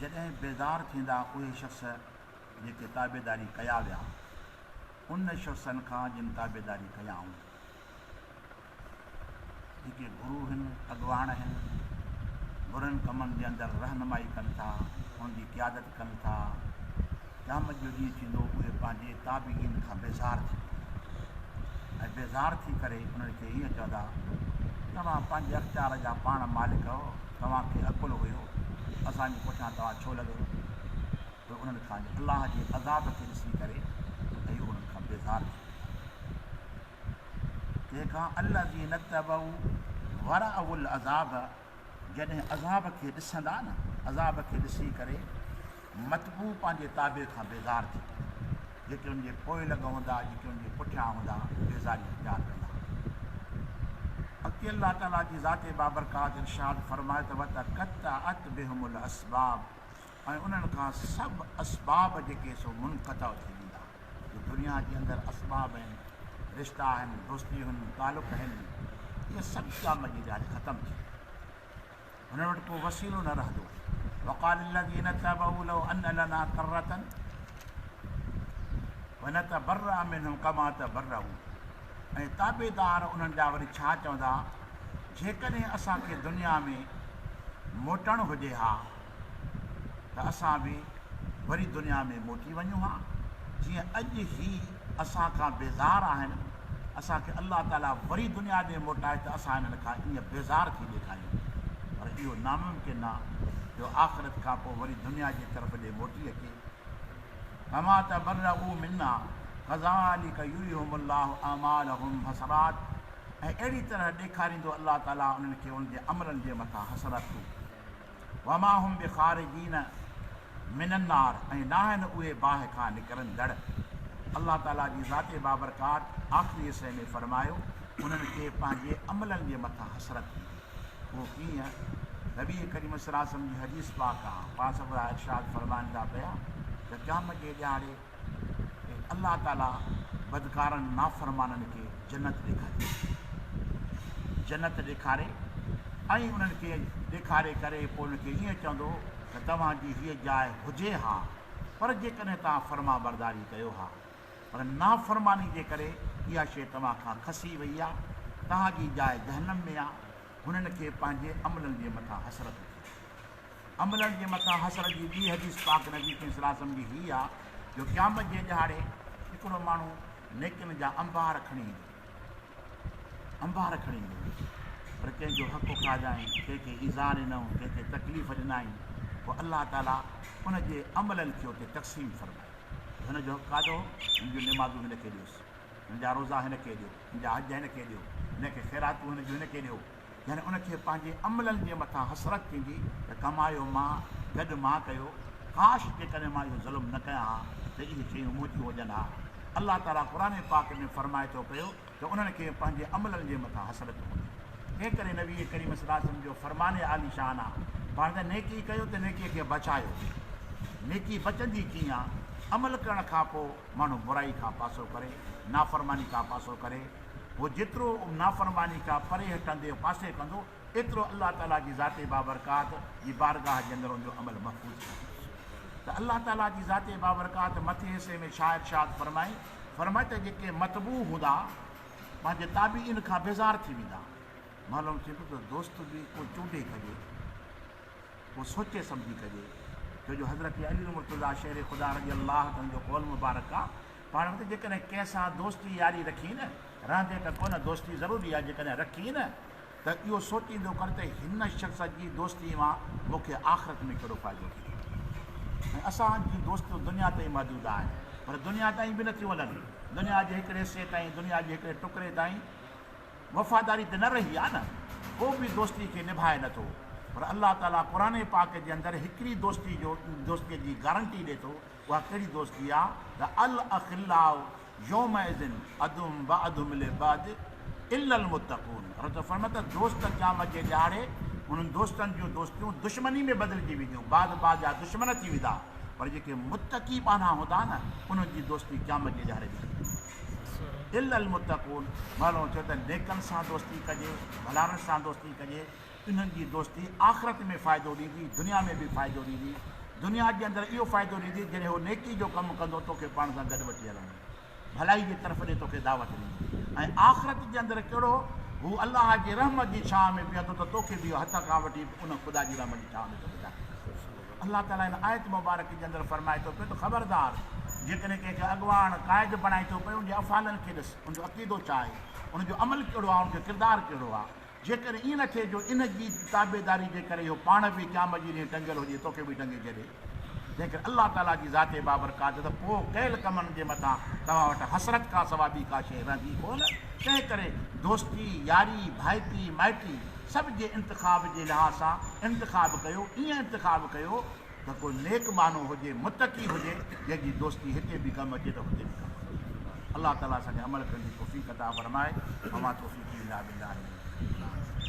جڏهن بيدار ٿيندا اهي شخص جيڪي تابعداري ڪيا ويا ان شخصن کان جن تابعداري ڪيائون جيڪي گرو هن اڳواڻ هن برن ڪمن جي اندر رهنمائي ڪن ٿا انهن جي قيادت ڪن ٿا، قيامت جو ڏينهن ٿيندو اهي پنهنجي تابعين کان بيزار ٿي ويندا ۽ بيزار ٿي ڪري انهن کي هيئن چوندا توهان پنهنجي اختيار جا پاڻ مالڪ هئو توهان کي عقل هيو اسان جي پٺيان توهان ڇو لڳيو پوء انهن کان الله جي عذاب کي ڏسي ڪري اهي انهن کان بيزار ٿي ويندا تنهن کان الذين اتبعوا ورأوا العذاب جڏهن عذاب کي ڏسندا نه عذاب کي ڏسي ڪري متبوع پنهنجي تابع کان بيزار ٿي پوي جيڪي ان جي پوئلڳ هوندا جيڪي ان جي پٺيان هوندا بيزاري اختيار ڪندا اڳتي الله تعالي جي ذات بابرڪات ارشاد فرمائي ته وتقطعت بهم الاسباب ۽ انهن کان سڀ اسباب جيڪي سو منقطع ٿي ويندا جو دنيا جي اندر اسباب آهن، رشتا آهن، دوستيون هن، تعلق آهن، اهي سڀ قيامت جي ڏهاڙي ختم ٿي ويندا. هنن وٽ ڪو وسيلو نه رهندو. وقال الذين اتبعوا لو ان لنا ڪرة فنتبرأ منهم ڪما تبرأوا ۽ تابعدار انهن جا وري ڇا چوندا جيڪڏهن اسان کي دنيا ۾ موٽڻ هجي ها ته اسان به وري دنيا ۾ موٽي وڃون ها جيئن اڄ هي اسان کان بيزار آهن، اسان کي الله تعاليٰ وري دنيا ڏي موٽائي ته اسان هنن کان ائين بيزار ٿي ڏيکاريون پر اهو ناممڪن آ جو آخرت کان پوء وري دنيا جي طرف ڏي موٽي اچي ڪما تبرئوا منا ڪذالڪ يريهم الله اعمالهم حسرات ۽ اهڙي طرح ڏيکاريندو الله تعاليٰ انهن کي انهن جي عملن جي مٿان حسرتون. وما هم بخارجين من النار ۽ ناهن اهي باهه کان نڪرندڙ. الله تعاليٰ جي ذات بابرڪات آخري حصي ۾ فرمايو، انهن کي پنهنجي عملن جي مٿان حسرت هوندي. اهو ڪيئن؟ نبي ڪريم صلعم جي حديث پاڪ آهي. پاڻ سرڪار ارشاد فرمائن ٿا پيا ته قيامت جي ڏهاڙي، ۽ الله تعاليٰ بدڪارن نافرمانن کي جنت ڏيکاري ٿو. جنت ڏيکاري ۽ انهن کي ڏيکاري ڪري پوء انهن کي ائين چوندو ته توهان جي هيء جاء هجي ها پر جيڪڏهن توهان فرمانبرداري ڪيو ها پر نافرماني جي ڪري اها شيء توهان کان کسي وئي آهي توهان جي جاء جهنم ۾ آهي هنن کي پنهنجي عملن جي مٿان حسرت ٿي. عملن جي مٿان حسرت جي ٻي حديث پاڪ نبي ڪريم صلي الله عليه وسلم جي هي آ جو قيامت جي ڏهاڙي هڪڙو ماڻهو نيڪين جا انبار کڻي ايندو انبار کڻي ايندو پر ڪنهن جو حق کاڌائين ڪنهن کي ايذا ڏنائون ڪنهن کي تڪليف ڏنائين پوء الله تعالی ان جي عملن کي اتي تقسيم فرمائي هن جو حق کاڌو هن جون نمازون هن کي ڏيوس هن جا روزا هن کي ڏيو هن جا حج هن کي ڏيو هن کي خيراتون هن جون هن کي ڏيو يعني ان کي پنهنجي عملن جي مٿان حسرت ٿيندي ته ڪمايو مان، گڏ مان ڪيو، ڪاش جيڪڏهن مان اهو ظلم نه ڪيان ها ته اهي شيون منهنجيون هجن ها. الله تعاليٰ قرآن پاڪ ۾ فرمائي ٿو پيو ته انهن کي پنهنجي عملن جي مٿان حسرت هوندي. تنهن ڪري نبي ڪريم صلي الله عليه وسلم جو فرمان عالي شان آ پاڻ ته نيڪي ڪيو ته نيڪي کي بچايو. نيڪي بچندي ڪيئن آ؟ عمل ڪرڻ کان پوء ماڻهو برائي کان پاسو ڪري، نافرماني کان پاسو ڪري، هو جيترو نافرماني کان پري هٽندي يا پاسي ڪندو، ايترو الله تعاليٰ جي ذات بابرڪات جي بارگاهه جي اندر ان جو عمل محفوظ ڪندو هوس. ته الله تعاليٰ جي ذات بابرڪات مٿين حصي ۾ ڇا ارشاد فرمائي؟ فرمائي ته جيڪي متبوع هوندا پنهنجي تابعين کان بيزار ٿي ويندا. معلوم ٿئي ٿو ته دوست به ڪو چونڊي ڪجي، ڪو سوچي سمجهي ڪجي، ڇو جو حضرت علي المرتضيٰ شير خدا رضي الله عنه جو قول مبارڪ آ. پاڻ وٽ جيڪڏهن ڪنهن سان دوستي ياري رکين نه رهندي ته ڪو نه دوستي ضروري آهي جيڪڏهن رکين نه ته اهو سوچيندو ڪر ته هن شخص جي دوستي مان مون کي آخرت ۾ ڪهڙو فائدو ٿيندو ۽ اسان جون دوستيون دنيا تائين محدود آهن پر دنيا تائين به نٿيون وڃن دنيا جي هڪڙي حصي تائين دنيا جي هڪڙي ٽڪري تائين وفاداري ته نه رهي آهي نه ڪو به دوستي کي نڀائي نٿو پر الله تعالي قرآن پاڪ جي اندر هڪڙي دوستي جو دوستي جي گارنٽي ڏي ٿو اها ڪهڙي دوستي آ ته الاخلاء يومئذ عدهم بعضهم لبعض الا المتقون الله تعالي فرمائي ٿو دوست قيامت جي ڏهاڙي انهن دوستن جون دوستيون دشمني ۾ بدلجي وينديون بعض بعض جا دشمن ٿي ويندا پر جيڪي متقي ٻانها هوندا نه انهن جي دوستي قيامت جي ڏهاڙي ڏٺي ويندي الا المتقون مولوي چيو ته نيڪن سان دوستي ڪجي ڀلارن سان دوستي ڪجي انهن جي دوستي آخرت ۾ فائدو ڏيندي، دنيا ۾ به فائدو ڏيندي. دنيا جي اندر اهو فائدو ڏيندي جڏهن هو نيڪي جو ڪم ڪندو توکي پاڻ سان گڏ وٺي هلندو، ڀلائي جي طرف ڏي توکي دعوت ڏيندو ۽ آخرت جي اندر ڪهڙو هو الله جي رحمت جي ڇانء ۾ بيهندو ته توکي به اهو هٿ کان وٺي ان خدا جي رحمت جي ڇانء ۾ توکي داخل ڪندو. الله تعاليٰ هن آيت مبارڪ جي اندر فرمائي ٿو پيو ته خبردار! جيڪڏهن ڪنهن کي اڳواڻ، قائد، بڻائين ٿو پئي ان جي افعالن کي ڏس، ان جو عقيدو ڇا آهي، ان جو عمل ڪهڙو آهي، ان جو ڪردار ڪهڙو آهي. جيڪر ائين نه ٿئي جو ان جي تابعداري جي ڪري اهو پاڻ به قيامت جي ڏينهن ٽنگيل هجي توکي به ٽنگي ڇڏي، جنهن ڪري الله تعاليٰ جي ذات بابرڪات ته پوء ڪيل ڪمن جي مٿان توهان وٽ حسرت کان سواء ٻي ڪا شيء رهندي ڪونه، تنهن ڪري دوستي، ياري، ڀائٽي، مائٽي سڀ جي انتخاب جي لحاظ سان انتخاب ڪيو، ائين انتخاب ڪيو. ته ڪو نيڪ ٻانهو هجي متقي هجي جنهن جي دوستي هتي به ڪم اچي ته هتي به ڪم اچي الله تعالي اسان کي عمل ڪرڻ جي توفيق عطا فرمائي وما توفيقي الا بالله عليه وسلم.